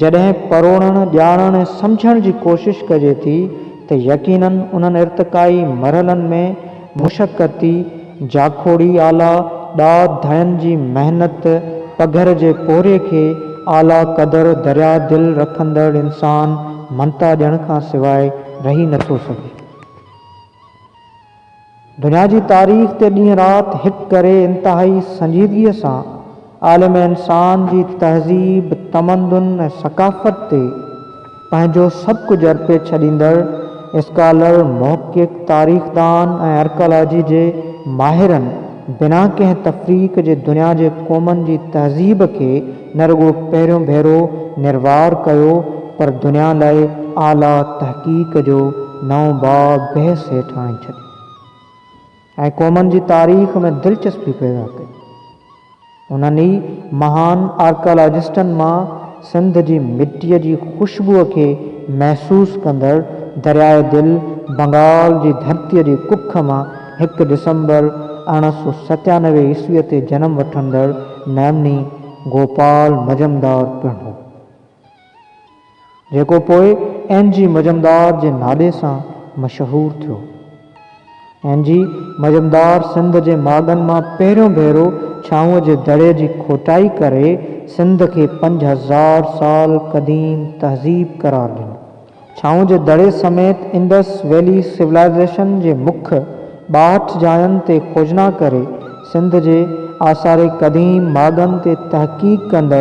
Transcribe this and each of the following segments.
جڏهن پروڙڻ، ڄاڻڻ ۽ سمجهڻ جي ڪوشش ڪجي ٿي ته يقيناً انهن ارتقائي مرحلن ۾ مشقتي، جاکوڙي آلا، ڏات ڌڻين جي محنت، پگهر جي پورهيي کي اعليٰ قدر، دريا دل رکندڙ انسان مڃتا ڏيڻ کان سواء رهي نٿو سگهي. دنيا جي تاريخ تي ڏينهن رات هڪ ڪري انتهائي سنجيدگيء سان عالم انسان جي تهذيب، تمدن ۽ ثقافت تي پنهنجو سڀ ڪجهه ارپي ڇڏيندڙ اسڪالر، محقق، تاريخدان ۽ ارڪالاجي جي ماهرن بنا ڪنهن تفريق جي دنيا جي قومن جي تهذيب کي نه رڳو پهريون ڀيرو نروار ڪيو پر دنيا لاء اعليٰ تحقيق جو نئون باب بحث هيٺ آڻي ڇڏيو ۽ قومن جي تاريخ ۾ دلچسپي پيدا ڪئي. انهن ئي مهان آرڪيالاجسٽن مان سنڌ جي مٽيء جي خوشبوء کي محسوس ڪندڙ درياء دل بنگال جي ڌرتيء جي ڪک مان هڪ ڊسمبر ارڙهن سؤ ستيانوي عيسويء تي جنم وٺندڙ ميمني گوپال مجمدار پڻ هو، جيڪو پوء اين جي مجمدار جي نالي سان مشهور ٿيو. اين جي مجمدار سنڌ جي ماڳن مان پهريون ڀيرو ڇانو جي دڙي جي کوٽائي ڪري سنڌ کي پنج هزار سال قديم تهذيب قرار ڏنو. ڇانو جي دڙي سميت انڊس ويلي سولائيزيشن جي مک ٻاهٺ جاين تي کوجنا ڪري سنڌ جي آثار قديم ماڳن تي تحقيق ڪندڙ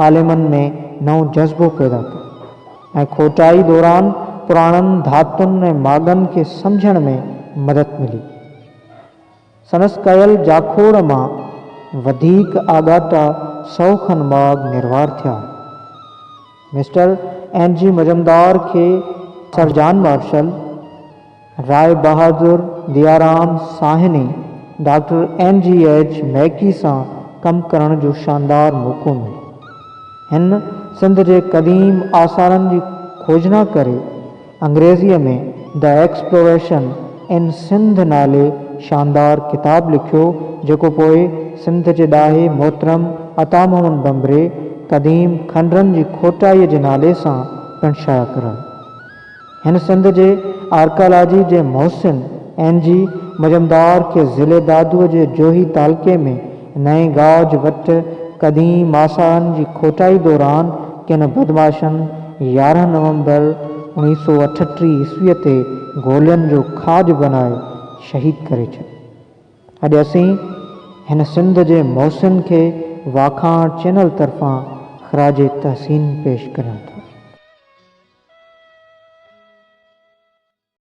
عالمن ۾ نئون جذبو پيدا ڪيو ۽ کوٽائي دوران پراڻن ڌاتن ۽ ماڳن کي سمجهڻ ۾ مدد ملي. سندس ڪيل جاکوڙ مان وڌيڪ آڳاٽا سؤ کن ماڳ نروار ٿيا. مسٽر اين جي مجمدار کي sir John Marshall, Rai Bahadur Dayaram Sahni, doctor N G H Mackay سان ڪم ڪرڻ جو شاندار موقعو مليو. هن سنڌ جي قديم آثارن جي کوجنا ڪري انگريزيء ۾ The Exploration in Sindh نالي شاندار ڪتاب لکيو، جيڪو پوء سنڌ جي ڏاهي محترم عطا محمد ڀنڀري قديم کنڊرن جي کوٽائيء جي نالي سان پڻ شايع ڪرايو. هن سنڌ جي آرڪالاجيء جي محسن اين جي مجمدار کي ضلعي دادوء جي جوهي تعلقي ۾ نئين گاج وٽ قديم ماسان جي کوٽائي دوران ڪن بدمعاشن يارهن نومبر اوڻيهه سؤ اٺٽيهه عيسويء تي گولين جو کاڄ بنائي شهيد ڪري ڇڏي. اڄ اسين هن سنڌ جي محسن کي واکاڻ چينل طرفان خراج تحسين پيش ڪريون ٿا.